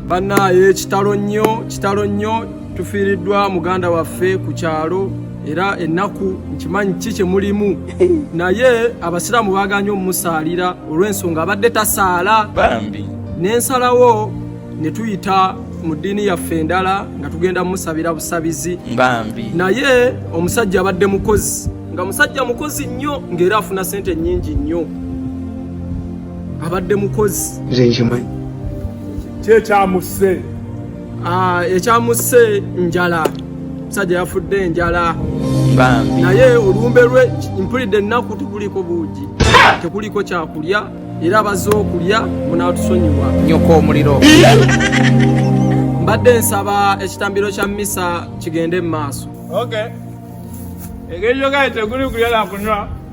bannaaye kitalo nnyo kitalo nnyo tufiiriddwa muganda waffe ku kyalo era ennaku nkimanyi ki kye mulimu naye abasiraamu baaganye omumusaalira olw'ensonga abadde tasaala bambi n'ensalawo ne tuyita mu ddiini yaffe endala nga tugenda mumusabira busabizi bambi naye omusajja abadde mukozi nga musajja mukozi nnyo ng'era afuna sente nnyingi nnyo abadde mukozi nze nkimanyi kyekyamusse ah, ekyamusse njala musajja yafudde enjala naye olumbe lwe mpulidde ennaku tekuliko buugi tekuliko kyakulya era baze okulya munatusonyiwa nyoko omuliro mbadde nsaba ekitambiro kya misa kigende mu maaso okay. engeri yogaye teguli kulya nakunywa